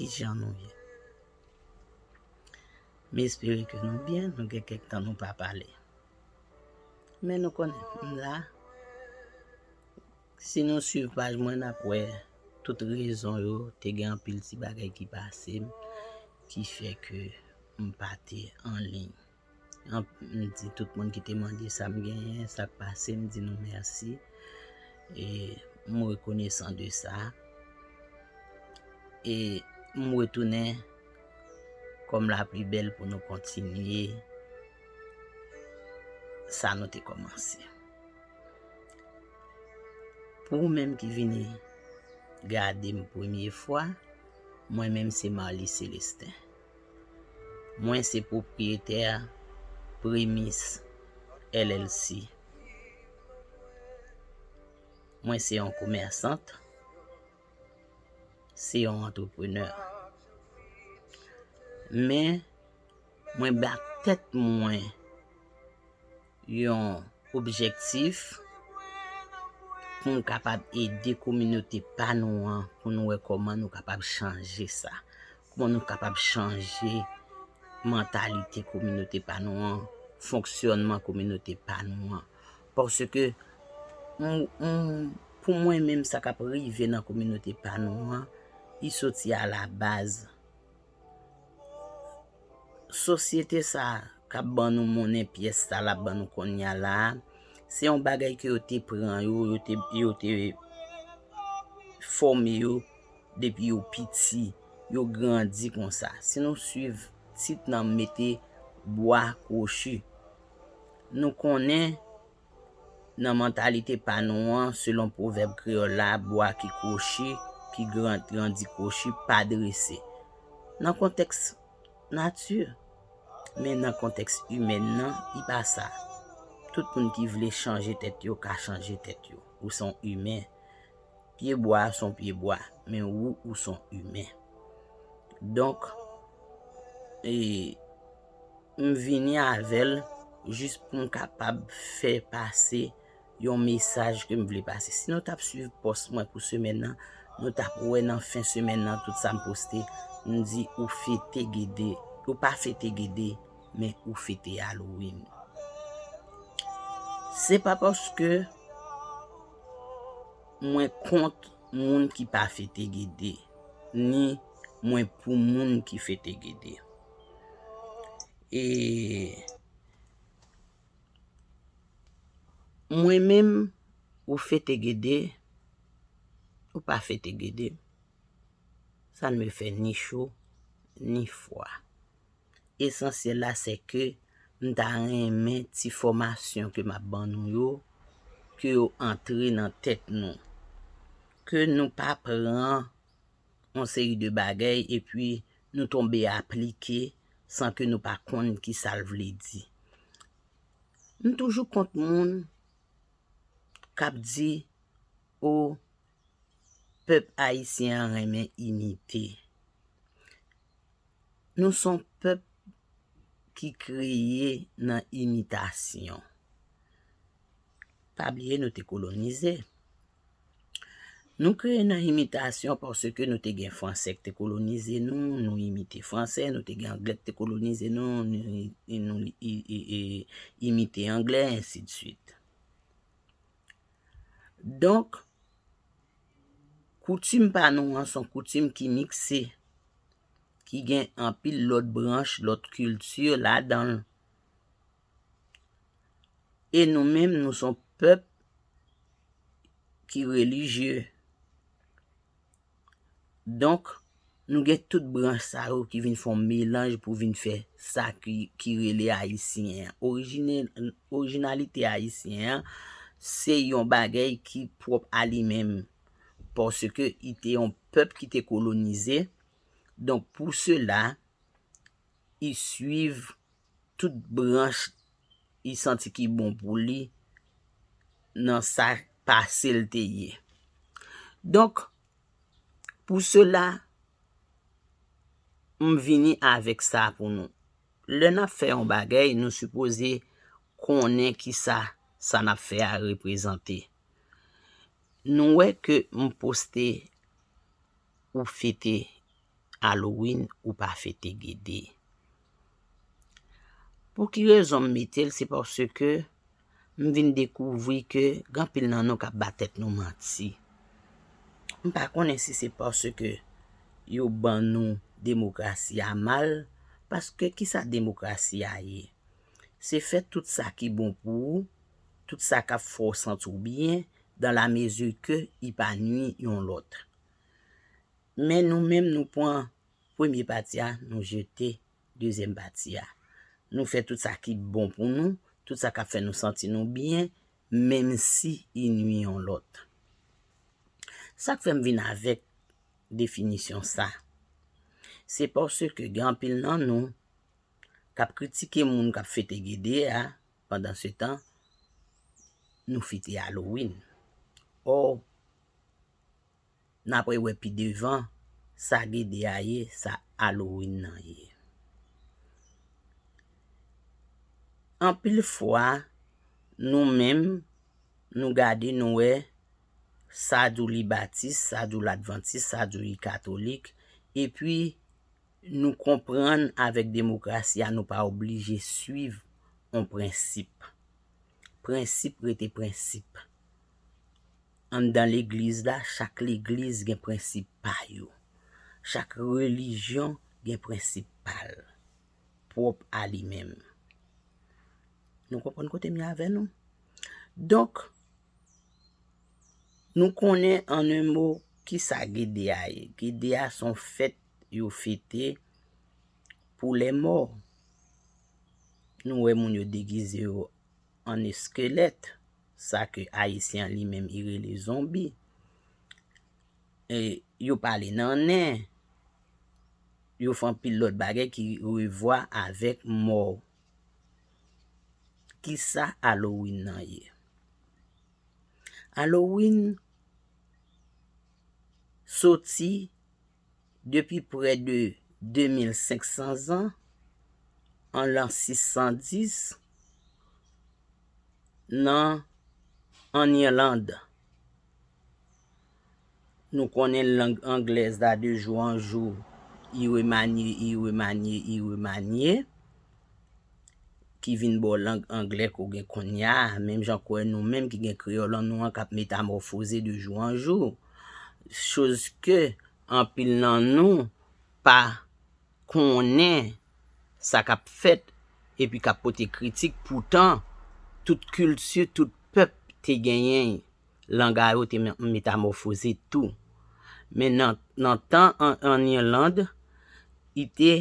Kijan nou ye? M espere ke nou byen, nou gen kèk tan nou pa pale. Men nou konnen, m la, si nou swiv paj mwen n ap wè tout rezon yo, te gen anpil ti bagay ki pase m, ki fè ke m pa te anliy. M di tout moun ki te mande sa m genyen, sa k pase, m di nou mèsi. E m rekonesan de sa. E m retounen kòm la pli bèl pou nou kontinye sa nou te kòmanse. Pou ou menm ki vini gade m premye fwa, mwen menm se Marlie Celestin. Mwen se pwopriyetè Premis LLC. Mwen se yon komèsant, se yon antreprenè. Men, mwen bat tèt mwen. yon objektif pou nou kapab ede kominote pa nou an pou nou wè kòman nou kapab chanje sa. Kòman nou kapab chanje mantalite kominote pa nou an, fonksyònman kominote pa nou an. Paske pou mwen menm sa k ap rive nan kominote pa nou an, li soti a la baz. Sosyete sa kap ban nou monnen pyès sa lap ban nou konnya la a, se yon bagay ke yo te pran yo, yo te fòme yo depi yo piti, yo grandi konsa. Si nou swiv tit nan mete bwa kwochi, nou konnen Nan mantalite pa nou an, selon pwovèb kreyòl la, bwa ki kwochi, ki grandi kwochi, pa drese. Nan kontèks nati, men nan kontèks imèn nan, li pa sa. Tout moun ki vle chanje tèt yo ka chanje tèt yo. Ou se yon imen. Pye bwa a se yon pye bwa, men ou, ou se yon imen. Donk, e. M vini avèl jis poum kapab fè pase yon mesaj kem vle pase. Si nou tap swiv pòs mwen pou semèn nan, nou tap wè nan fen semèn nan tout sam poste, m di ou fete gede, ou pa fete gede men ou fete Halloween. Se pa paske mwen kont moun ki pa fete gede, ni mwen pou moun ki fete gede. E mwen menm ou fete gede ou pa fete gede sa ne me fè ni cho ni fwa. Esansyèl la se ke m ta renmen ti fòmasyon ke m ap ban nou yo ke yo antre nan tèt nou. Ke nou pa pran yon seri de bagay epi nou tonbe aplike san ke nou pa konn ki sa l vle di. M toujou kont moun k ap di o pèp ayisyen an renmen imite. Nou s on pèp ki kreye nan imitasyon. Pa bliye nou te kolonize. Nou kreye nan imitasyon paske nou te gen franse k te kolonize nou, nou imite franse, nou te gen angle k te kolonize nou, nou imite angle, ensi de swit. Donk, koutim pa nou an son koutim ki mikse, ki gen anpil lòt branch, lòt kilti ladan l. E nou menm nou son pèp ki relijye. Donk nou gen tout branch sa yo ki vin fon melanj pou vin fè sa ki rele ayisyen an. Orijinalite ayisyen an se yon bagay ki pwòp a li menm. Paske li te yon pèp ki te kolonize. Donk pou sela, li swiv. tout branch li santi ki bon pou li nan sa pase l te ye. Donk, pou sela, m vini avèk sa pou nou. Lè n ap fè yon bagay, nou sipoze konnen ki sa sa n ap fè a reprezante. Nou wè ke m poste ou fete Halloween ou pa fete gede. Pou ki rezon m mete l se paske m vin dekouvri ke gen anpil nan nou k ap ba tèt nou manti. M pa konnen si se paske yo ban nou demokrasi a mal, paske ki sa demokrasi a ye? Se fè tout sa ki bon pou ou, tout sa k ap fè w santi w byen, dan la mezi ke li pa nui yon lòt. Men nou menm nou pwan premye pati a nou jete dezyèm pati a. Nou fè tout sa ki bon pou nou, tout sa kap fè nou santi nou byen, menm si i nwi yon lòt. Sak fèm vin avèk definisyon sa, se paske gen anpil nan nou kap kritike moun kap fete gede a, pandan se tan nou fete Halloween. Ò! Napre wè pi devan sa gede a ye sa Halloween nan ye. Anpil fwa nou menm nou gade nou wè sa dou li batis, sa dou ladvantis, sa dou li katolik epi nou konprann avèk demokrasi a nou pa oblije swiv yon prensip. Prensip rete prensip. Anndan legliz la, chak legliz gen prensip pa yo. Chak relijyon gen prensip pa l, pwòp a li menm. Nou konprann kote m ye avè nou? Donk, nou konnen an en mo ki sa Gede a ye. Gede a se yon fèt yo fete pou lèmò. Nou wè moun yo degize yo an eskelèt, sa ke Ayisyen an li menm i rele zonbi. E yo pale nan nen, yo fè anpil lòt bagay ki revwa avèk mò. Kisa Halloween nan ye? Halloween soti. depi prè de 2500 zan, an lan 610, nan ann Irland. Nou konnen lang anglèz la de jou an jou, i remanye, i remanye, i remanye. ki vin ba w lang anglè ke w gen konnya, menm jan kwè nou menm ki gen kreyòl an nou an k ap metamòfoze de jou an jou, choz ke anpil nan nou pa konnen sa k ap fèt epi k ap pote kritik, poutan tout kilti, tout pèp te genyen lang a yo te metamòfoze tou. Men nan tan an Irlande, i te.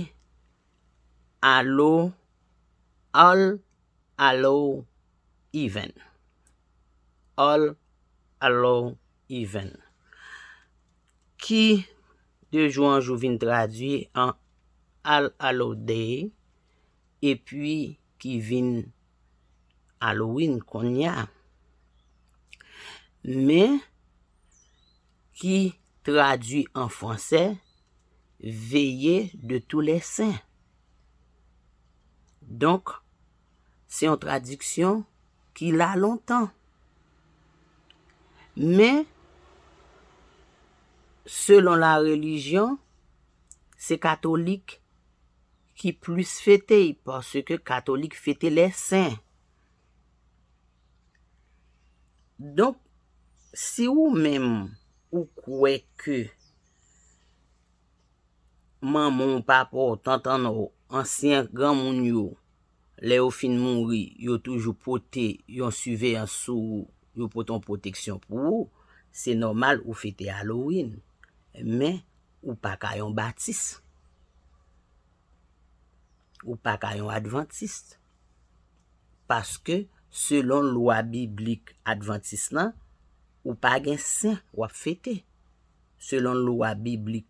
Allo All Allo Even All Allo Even ki de jou an jou vin tradui an All Allo Day epi ki vin Halloween kounye a. Men, Ki tradui an fransè, Veye de tou lè sen. Donk, se yon tradiksyon ki la lontan. Men, selon la relijyon, se katolik ki plis fete y, paske katolik fete lè sen. Donk, si ou menm ou kwè ke manman w, papa w, tantan w, ansyen granmoun yo, lè yo fin mouri, yo toujou pote yon siveyans sou ou, yo pote yon pwoteksyon pou ou, se nòmal ou fete Halloween. Men, ou pa ka yon Batis. Ou pa ka yon Adventist. paske selon lwa biblik advantis lan ou pa gen sen wap fete selon lwa biblik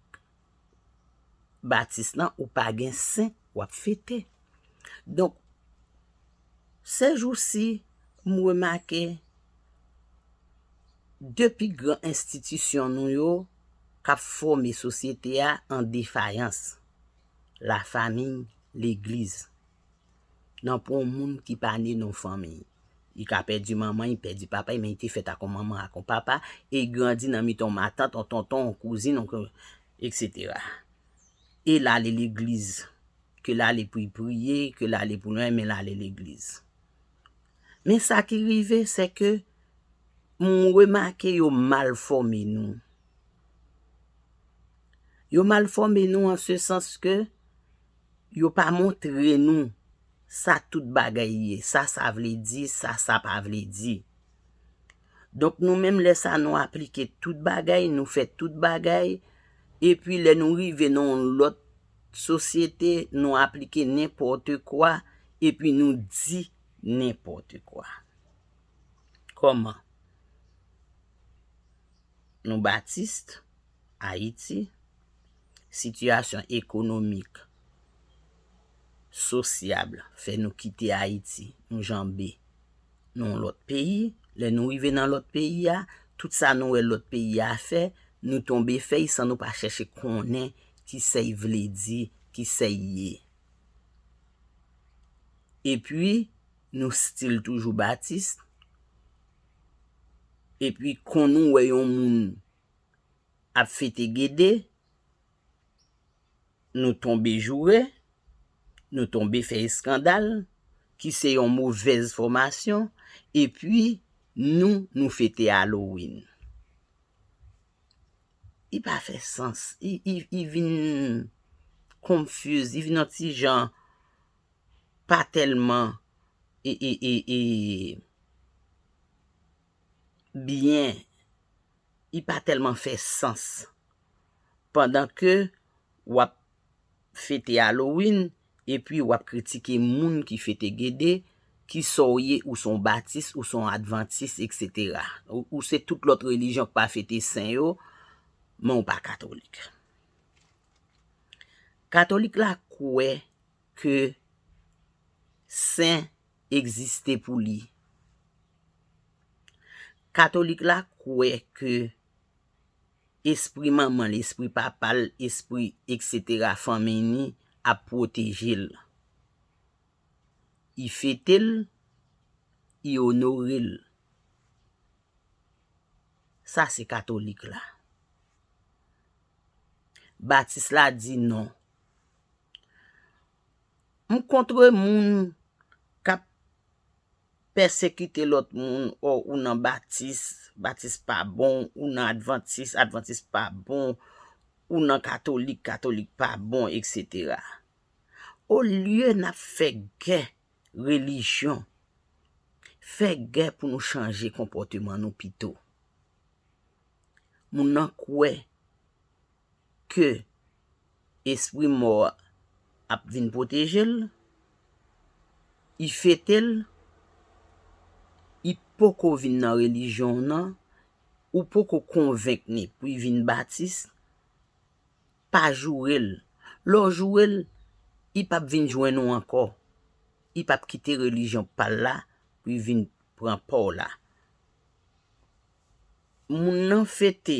batis lan ou pa gen sen wap fete donk sèjousi m remake 2 pi gran enstitisyon nou yo kap fòme sosyete a an defayans la famiy legliz. Nan pou yon moun ki pa ne nan yon fanmi. Li ka pèdi manman, li pèdi papa li men li te fèt ak yon manman, ak yon papa e li grandi nan mitan yon matant, yon tonton, yon kouzin, eksetera. E l ale legliz. Ke l ale pou l priye, ke l ale pou l anyen men l ale legliz. Men sa ki rive se ke m remake yo mal fòme nou. Yo mal fòme nou an se sans ke Yo pa montre nou sa tout bagay ye, sa sa vle di, sa sa pa vle di. Donk nou menm lè sa nou aplike tout bagay, nou fè tout bagay, epi lè nou rive nan yon lòt sosyete, nou aplike nenpòte kwa, epi nou di nenpòte kwa. Kòman? Nou Batiste? Ayiti, sitiyasyon ekonomik, sosyab fè nou kite Ayiti, nou janbe nan yon lòt peyi. Lè nou rive nan lòt peyi a, tout sa nou wè lòt peyi a fè, nou tonbe fè y san nou pa chèche konnen ki sa y vle di, ki sa y ye. Epi, nou stil toujou Batiste. Epi, kon nou wè yon moun ap fete gede, nou tonbe joure, nou tonbe fè eskandal, ki se yon movèz fòmasyon, epi nou, nou fete Halloween. Li pa fè sans. Li vin confuse, li vin yon ti jan pa tèlman e, e, e, e, byen li pa tèlman fè sans pandan ke wap fete Halloween epi wap kritike moun ki fete Gede kisa w ye ou se yon Batis ou se yon Advantis etc ou se tout lòt relijyon ki pa fete sen yo men w pa katolik Katolik la kwè ke sen egziste pou li. Katolik la kwè ke espri manman l, espri papa l, espri eksetera fanmi ni ap pwoteje l. Y fete l, y onore l. Sa se katolik la. Batis la di non. M kontre moun k ap pèsekite lòt moun o ou nan batis, batis pa bon, ou nan advantis, advantis pa bon, ou nan katolik, katolik pa bon, eksetera. Olye n ap fè gè relijyon, fè gè pou nou chanje konpòteman nou pito. Moun nan kwè ke espri mò a ap vin pwoteje l, y fete l, y poko vin nan relijyon w nan, ou poko konvenk ni pou y vin batis, pa joure l. Lè w joure l, y pap vin jwenn ou ankò, y pap kite relijyon pa l la pou y vin pran pa w la. Moun nan fete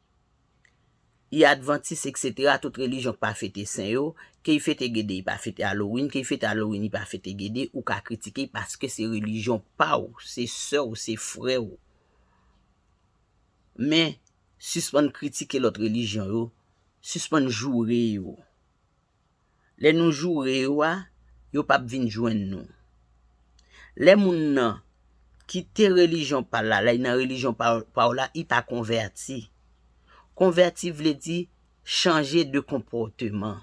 y advantis eksetera tout relijyon k pa fete sen yo, ke y fete gede y pa fete alowin, ke y fete alowin y pa fete gede, ou ka kritike y paske se relijyon pa w, se sè w, se frè w. Men, sispann kritike lòt relijyon yo, sispann joure yo. Lè nou joure yo a, yo p ap vin jwenn nou. Lè moun nan kite relijyon pa l la, lè l nan relijyon pa w la, li pa konvèti. Konvèti vle di chanje de konpòteman.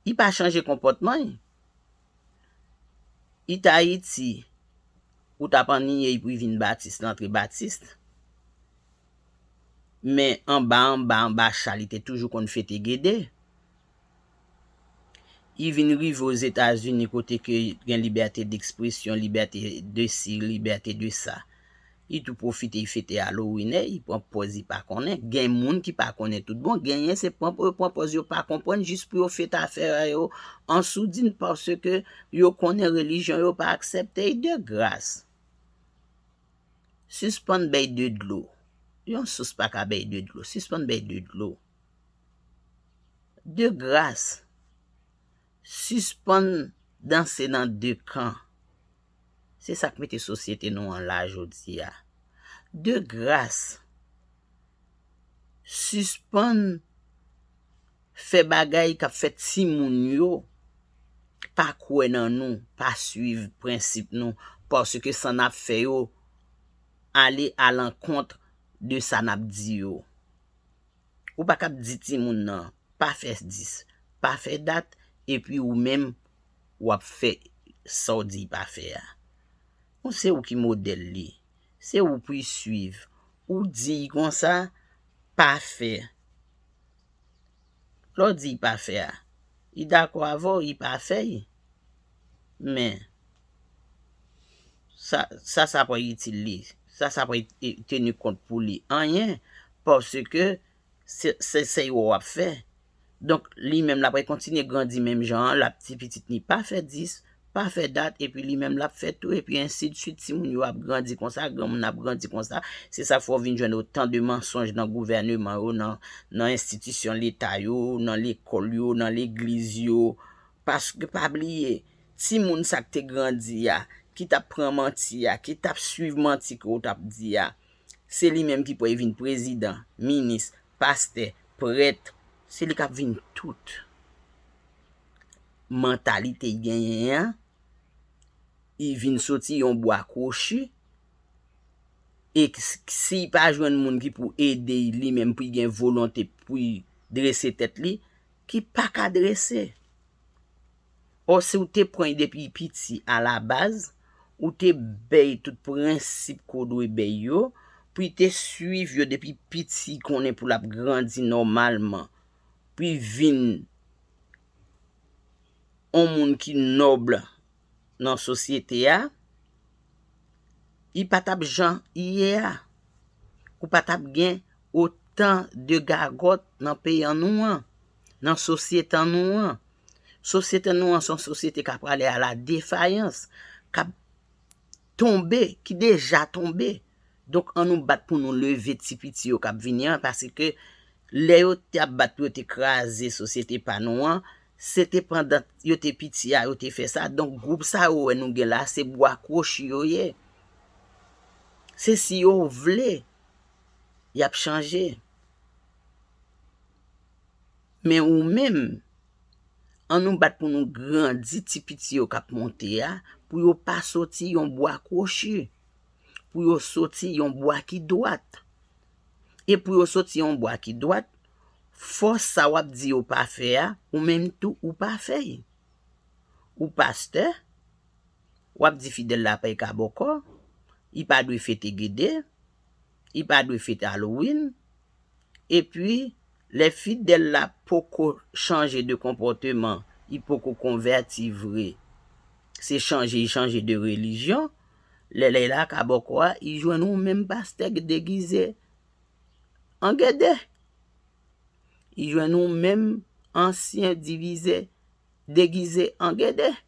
Li pa chanje konpòtman l. Li te Ayiti, ou t ap anniye l pou l vin Batis, l antre Batis. men anba anba anba cha li te toujou konn fete gede. I vin rive Ozetazini kote ke gen libète dekspresyon, libète de si, libète de sa. I tou pwofite i fete Halloween e, i pran pòz i pa konnen. Gen moun ki pa konnen tout bon, genyen se pran pou yo pran pòz yo pa konprann jis pou yo fete afè a yo an soudin paske yo konnen relijyon yo pa aksepte i. De gras! Sispann bèy de dlo. Yon sous pa ka bèy de dlo. Sispann bèy de dlo. De gras, sispann danse nan de kan. Se sa k mete sosyete nou an la jodi a. De gras, sispann fè bagay kap fè timoun yo pa kwè nan nou, pa swiv prensip nou paske sa nap fè yo ale a lankont de sa nap di yo. Ou pa kap di timoun nan pa fè dis, pa fè dat epi ou menm wap fè sa w di pa fè a. Ou se ou ki modèl li, se ou pou y swiv, ou di y konsa pa fè. Lè w di y pa fè a, li dakò avè w, li pa fè l. Men, sa, sa sa pral itil li? Sa sa pral teni kont pou li? Anyen, paske se, se sa yo w ap fè. Donk, li menm l apral kontinye grandi menm jan an, l ap di pitit li pa fè 10, pa fè dat epi li menm lap fèt tou epi ensidsuit ti moun yo ap grandi konsa granmoun ap grandi konsa se sa fè w vin jwenn otan de mansonj nan gouvèneman yo nan enstitisyon leta yo nan lekòl yo nan legliz yo paske pa bliye ti moun sa k te grandi a ki t ap pran manti a ki t ap swiv manti ke w t ap di a se li menm ki pwal vin prezidan minis pastè prèt se li k ap vin tout. mantalite y genyen an, y vin soti yon bwa kwochi, e si y pa jwenn moun ki pou ede y li menm pou y gen volonte pou y drese tèt li, ki pa ka drese. Ò si w te pran y depi y piti alabaz, ou te bè y tout prensip ke w dwe bè y yo, pou y te swiv yo depi piti konnen pou l ap grandi nòmalman, pu vin on moun ki noble nan sosyete a, li pa t ap jan li ye a. Ou pa t ap gen otan de gagòt nan peyan nou an, nan sosyetan nou an. Sosyete nou an se yon sosyete k aprale a la defayans, k ap tonbe, ki deja tonbe. Donk an nou bat pou nou leve ti piti yo kap vini an paske lè yo te ap bat pou yo te kraze sosyete pa nou an, se te pandan yo te piti a yo te fè sa. Donk gwoup sa ou wè nou gen la se bwa kwochi yo ye. Se si yo vle yap chanje. Men ou menm An nou bat pou nou grandi ti piti yo kap monte a pou yo pa soti yon bwa kwochi, pou yo soti yon bwa ki dwat. E pou yo soti yon bwa ki dwat, fò sa wap di yo pa fè a, ou menm tou ou pa fè l. Ou pastè, wap di fidèl la pay ka bòkò, li pa dwe fete gede, li pa dwe fete Halloween. Epi, lè fidèl la poko chanje de konpòteman, li poko konvèti vre, se chanje li chanje de relijyon, lè li la ka bòkò a, li jwenn yon menm pastè ki degize an gede. Li jwenn yon menm ansyen divize degize an gede.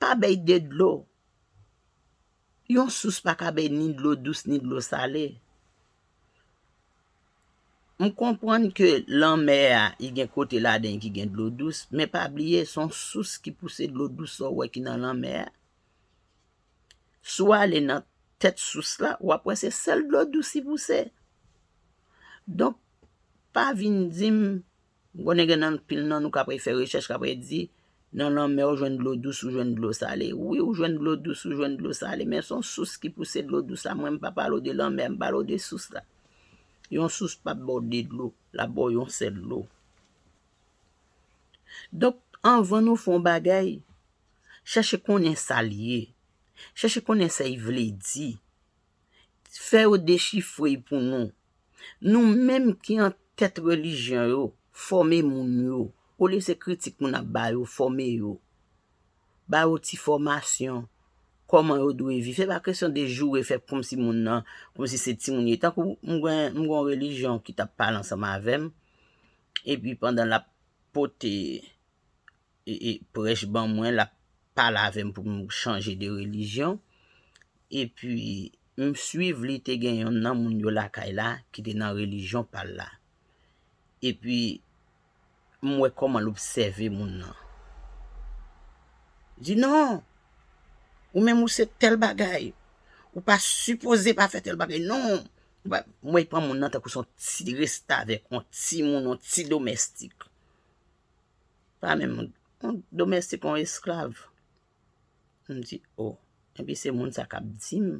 Pa bay de dlo. Yon sous pa ka bay ni dlo dous ni dlo sale. M konprann ke lanmè a li gen kote ladan li ki gen dlo dous, men pa bliye se yon sous ki pouse dlo dous sa w wè ki nan lanmè a. Si w ale nan tèt sous la, w ap wè se sèl dlo dous li pouse. Donk, pa vin di m M konnen gen anpil nan nou k apre fè rechèch k apre di, Nan lanmè ou jwenn dlo dous, ou jwenn dlo sale. Wi, ou jwenn dlo dous, ou jwenn dlo sale. Men son sous ki pouse dlo dous la. Mwen m pa pale w de lanmè, m pale w de sous la. Yon sous p ap ba w de dlo, l ap ba w yon sèl dlo. Donk, anvan nou fè yon bagay, chèche konnen sa l ye. Chèche konnen sa l vle di. Fè yo dechifre l pou nou. Nou menm ki an tèt relijyon yo fòme moun yo olye se kritik moun ap ba yo fòme yo ba yo ti fòmasyon kòman yo dwe viv se pa kesyon de joure fè kòmsi moun nan kòmsi se timoun li ye tankou m gen m gon relijyon ki tap pale ansanm avèm epi pandan lap pote prèch ban mwen l ap pale avè m pou m chanje de relijyon. Epi, m suiv li te gen yonn nan moun yo lakay la ki te nan relijyon pa l la. Epi, m wè kòman l obsève moun nan. Li di, Non! Ou menm ou se tèl bagay. Ou pa sipoze pa fè tèl bagay non! M wè l pran moun nan tankou se yon ti restavèk, yon timoun, yon ti domèstik. Pa menm on domestik, on esklav. M di o, epi se moun sa k ap di m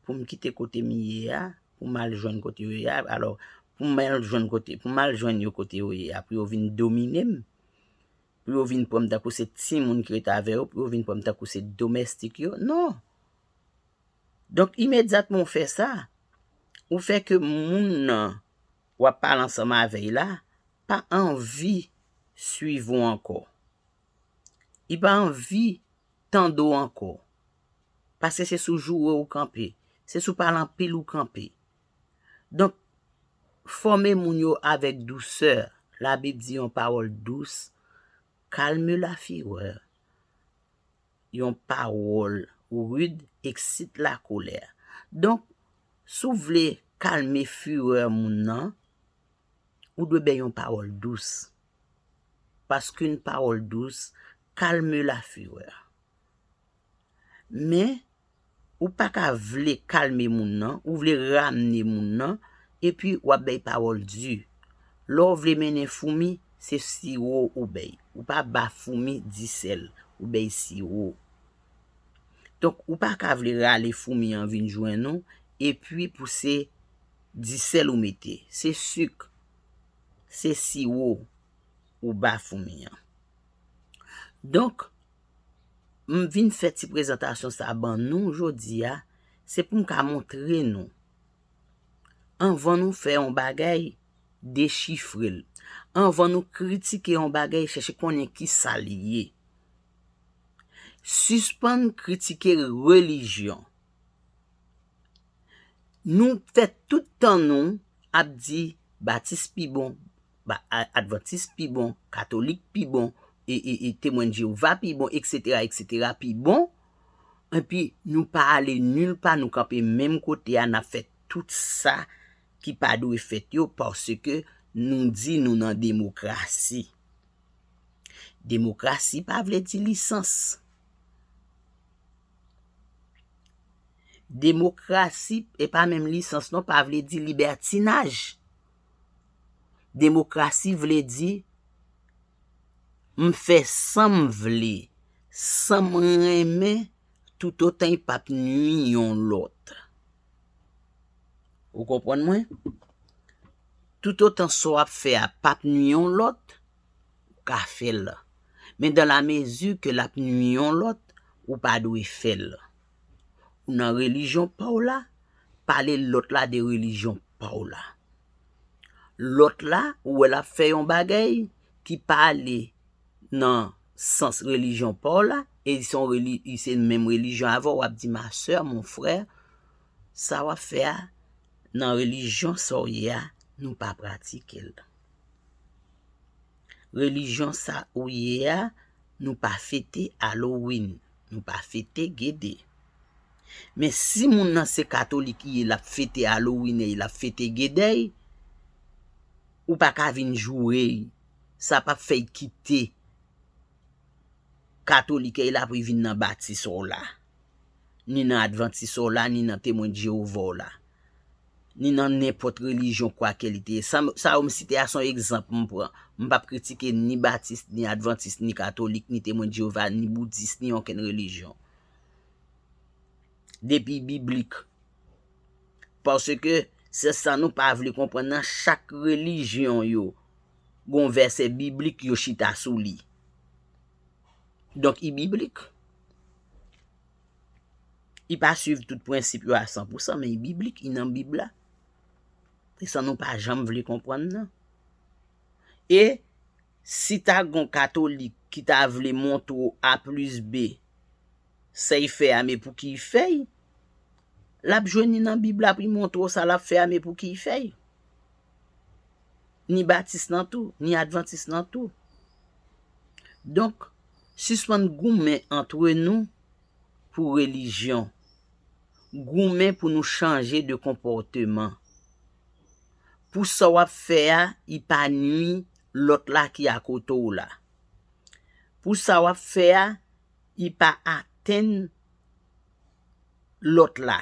pou m kite kote m ye a, pou m al jwenn kote yo ye a, alò pou m al jwenn kote, pou m al jwenn yo kote yo ye a, pou yo vin domine m, pou yo vin pran m tankou se timoun ki rete avè yo, pou yo vin pran m tankou se domestik yo, non! Donk imedyatman ou fè sa, ou fè ke moun nan w ap pale ansanm avè l la, pa anvi swiv ou ankò. Li pa anvi tande w ankò. Paske se sou joure ou kanpe. Se sou pale anpil ou kanpe. Donk, fòme moun yo avèk dousè. Labib di yon pawòl dous kalme la firèr. Yon pawòl rid eksite la kolèr. Donk, si w vle kalme firè moun nan, Ou dwe bay yon pawòl dous, paske'n pawòl dous kalme la fureur. Men, ou pa ka vle kalme moun nan, ou vle ramne moun nan, epi w'ap bay pawòl di. Lè w vle mennen foumi, se siwo ou bay. Ou pa ba foumi di sèl, ou bay siwo. Donk, ou pa ka vle rale foumi an vin jwenn ou, epi pou se. Di sèl ou mete. Se suk. Se siwo ou ba foumi an. Donk, m vin fè ti prezantasyon sa ban nou jodi a, se pou m ka montre nou, anvan nou fè yon bagay, dechifre l. Anvan nou kritike yon bagay, chèche konnen ki sa l ye. Sispann kritike relijyon. Nou fè tout tan nou ap di batis pi bon, advantis pi bon, katolik pi bon, temwen jewova pi bon eksetera eksetera pi bon epi nou pa ale nil pa nou kanpe menm kote a nap fè tout sa ki pa dwe fèt yo paske nou di nou nan demokrasi. Demokrasi pa vle di lisans. Demokrasi e pa menm lisans non pa vle di libètinaj. Demokrasi vle di m fè sa m vle, sa m renmen toutotan y pap nui yon lòt. Ou konprann mwen? Toutotan sa w ap fè a pap nui yon lòt. ou ka fèl men dans la mesure ke lap nwi yon lòt ou pa dwe fèl ou nan religion paw la pale lòt la de religion paw la lòt la ou wè lap fè yon bagay ki pa ale nan sans religion paw la e li son li se menm religion avèw wap di ma soeur mon frère sa wap fè a nan relijyon sa w ye a nou pa pratike l. Relijyon sa ou ye a nou pa fete Halloween, nou pa fete Gede. Men si moun nan se katolik li ye lap fete Halloween e lap fete Gede, ou pa ka vin joure l. Sa pap fè l kite katolik e l apre vin nan batis ou la. ni nan advantis w la, ni nan temwen de Jewova w la, ni nan nenpòt relijyon kwake li te ye. Sa yo m site a se yon egzanp m pran. M pap kritike ni batis, ni advantis, ni katolik, ni temwen de Jewova, ni boudis, ni okenn relijyon. Depi biblik. Paske, se sa nou pa vle konprann nan, chak relijyon yo gen yon vèsè biblik yo chita sou li. Donk i biblik. I pa swiv tout prensip yo a san pou san men i biblik, i nan bib la. Se sa nou pa janm vle konprann nan. E si ta gon katolik ki ta vle montre w a plis be sey fè a men pou ki i fèy, l ap jwenn ni nan bib la pou i montre w sa l ap fè a men pou ki i fèy. ni batis lan tou, ni advantis lan tou. Donk, sispann goumen antre nou pou relijyon. Goumen pou nou chanje de konpòteman. Pou sa w ap fè a, li pa nui lòt la ki akote w la. Pou sa w ap fè a, li pa atenn lòt la.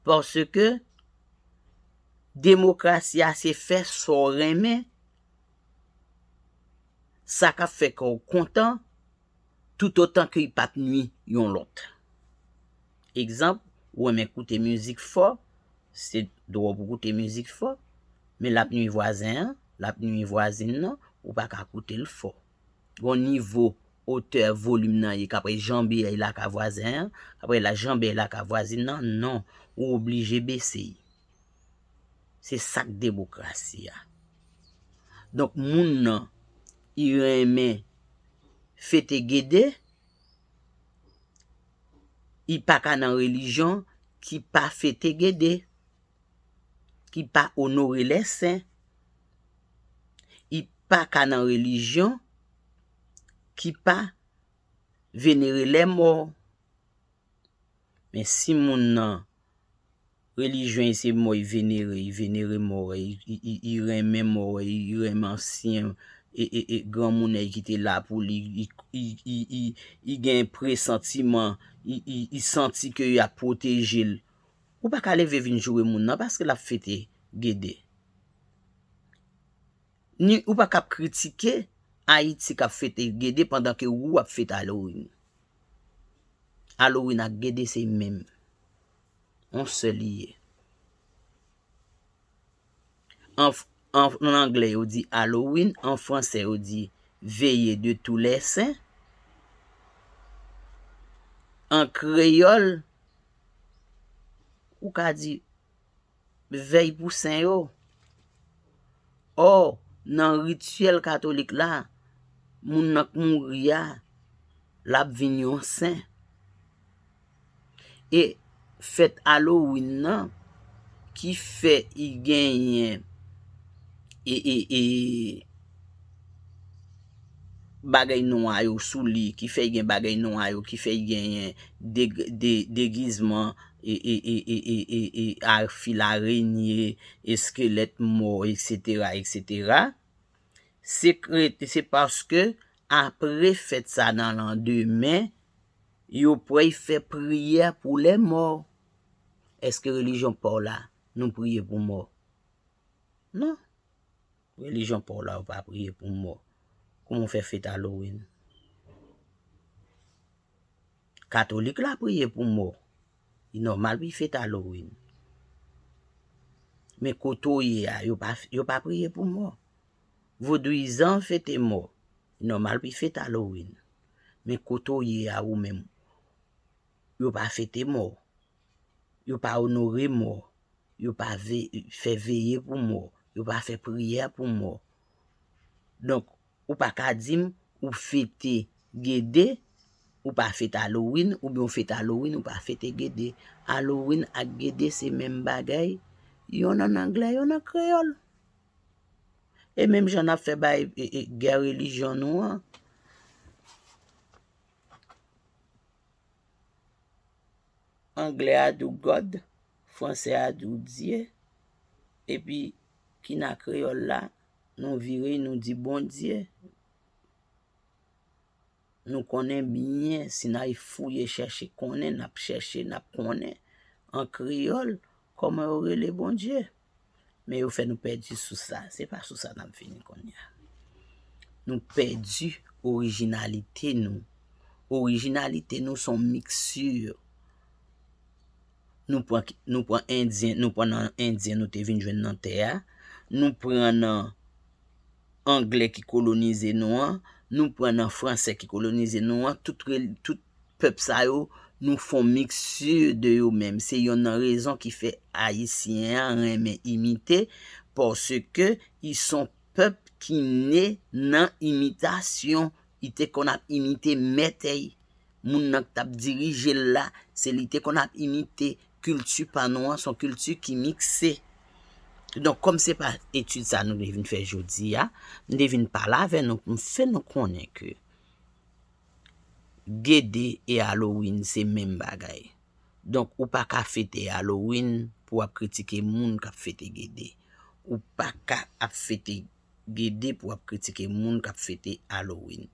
Paske demokrasi a se fè sa w renmen, sa k ap fè kè w kontan, toutotan ke li pa p nui yon lòt. Egzanp, ou renmen koute mizik fò, se dwa w pou w koute mizik fò, men l ap nui vwazen an, l ap nui vwazin nan, ou pa ka koute l fò. Gon nivo otè volim nan ye kap janbe èy la ka vwazen an, aprè la janbe èy la ka vwazin nan, non, ou oblije bese y. Se sak demokrasi a. Donk moun nan i renmen fete gede, i paka nan relijyon ki pa fete gede, ki pa onore lè sen. I pa ka nan relijyon ki pa venere lèmò. Men si moun nan relijyon i se mò i venere, i venere mò, i renmen mò, i renmen ansyen e granmounè ki te la pou li, i gen presantiman, i santi ke y ap pwoteje l, ou pa ka leve vin joure moun nan paske l ap fete Gede. Ni ou pa kap kritike Ayiti kap fete Gede pandan ke wou ap fete Halloween. Halloween ak Gede se menm. On sèl li ye. An anglè yo di Halloween, an fransè yo di Veillée de tous les saints. An kreyòl ou ka di. Vèy pou Sen yo. Ò, nan rityèl katolik la, moun nan k mouri a, l ap vin yon sen. E fèt Halloween nan, ki fè i genyen e e e. bagay nwa yo sou li ki fè gen bagay nwa yo ki fè genyen degizman e fil arenye eskelèt mò eksetera eksetera se paske apre fèt sa nan landemen yo pwey fè priyè pou lè mò eske relijyon paw la nou priye pou mò non. Religion paw la ou pa priye pou mò kouman ou fè fête Halloween? Katolik la priye pou mò li nòmal pou fête Halloween men kote ou ye a yo pa priye pou mò Vodouyizan fete mò li nòmal pou fête Halloween men kote ou ye a ou menm yo pa fete mò, yo pa onore mò, yo pa fè veye pou mò, yo pa fè priyè pou mò. Donk, ou pa ka di m ou fete Gede, ou pa fete Halloween, oubyen ou fete Halloween, ou pa fete Gede. Halloween ak Gede se menm bagay, yonn an anglè, yonn an kreyòl. E menm jan n ap fè bay gè relijyon nou an. Anglè a dou God, fransè a dou Dye, epi ki nan kreyòl la, nou vire nou di Bondye. Nou konnen byen, si n al fouye chèche konnen, n ap chèche, n ap konnen. An kreyòl, Kòman yo rele Bondye? Men yo fè nou pèdi sous la. Se pa sou sa n ap vini kounye a. Nou pèdi orijinalite nou. Orijinalite nou son miksè. Nou pran endyen, nou pran nan endyen nou te vin jwenn nan tè a. Nou pran nan angle ki kolonize nou an. Nou pran nan franse ki kolonize nou an. Tout Pèp sa yo nou fon mixture de yo menm se yonn nan rezon ki fè ayisyen an renmen imite paske i son pèp ki ne nan imitasyon i te konn ap imite mètèy moun nan k tap dirije l la se li te konn ap imite kilti pa nou an son kilti ki mikse donk kòm se pa etid sa nou te vin fè jodi a m te vin pale avè nou pou m fè nou konnen ke. Gede e Halloween se menm bagay. Donk ou pa ka fete Halloween pou w ap kritike moun k ap fete Gede. Ou pa ka ap fete Gede pou w ap kritike moun k ap fete Halloween.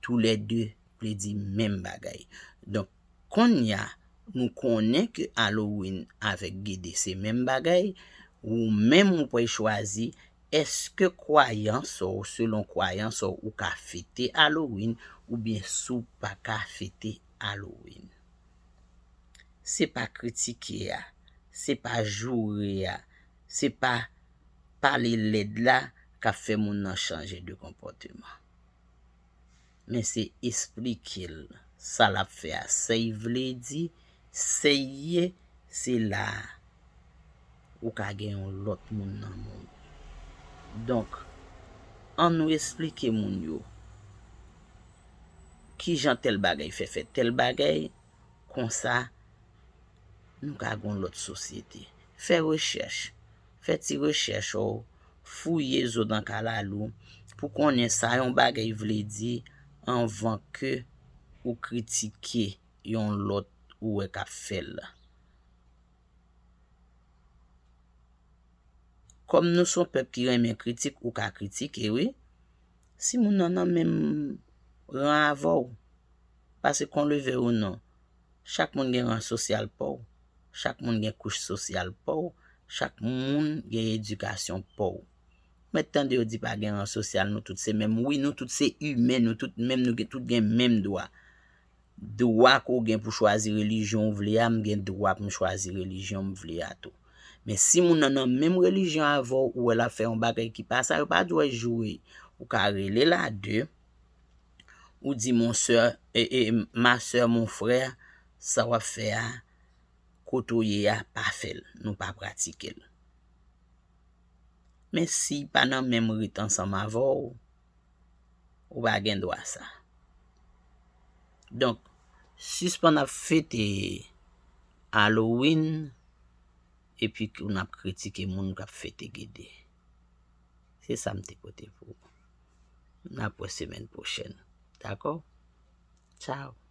Tou lè 2 vle di menm bagay. Donk konnya nou konnen ke Halloween avèk Gede se menm bagay, ou menm ou pwal chwazi Èske kwayans w selon kwayans w ou ka fete Halloween oubyen si w pa ka fete Halloween? Se pa kritike a, se pa joure a, se pa pale lèd la k ap fè moun nan chanje de konpòteman. Men se esplike l sa l ap fè a sèy vle di sèy ye se la a ou ka gen yon lòt moun nan men w. Donk an nou esplike moun yo ki jan tèl bagay fè fè tèl bagay kon sa nou ka gen yon lòt sosyete. Fè rechèch, fè ti rechèch ou fouye zo dan kalalou pou konnen sa yon bagay vle di anvan ke ou kritike yon lòt ou wè kap fèl. Kòm nou son pèp ki renmen kritik ou ka kritike wi si moun nan nan menm ran avèw paske kon leve ou non Chak moun gen ran sosyal pa w, chak moun gen kouch sosyal pa w, chak moun gen edikasyon pa w. M mèt tande yo di pa gen ran sosyal nou tout se menm. Wi nou tout se imen, nou tout menm, nou tout gen menm dwa. Dwa ke w gen pou chwazi relijyon w vle a, m gen dwa pou m chwazi relijyon m vle a tou. Men si moun nan nan menm relijyon avè w, ou wè l ap fè yon bagay ki pa sa, yo pa dwe joure. Ou ka rele l a de. ou di mon soeur ma soeur mon frère sa wap fè a kote ou ye a pa fèl nou pa pratikel men si pa nan menm rit ansanm avèw ou pa gen dwa sa donk sispann ap fete Halloween epi ke nap kritike moun kap fete gede. Se sa m te pote pou ou. N ap wè semèn pwochèn. Dakò? Tchaw!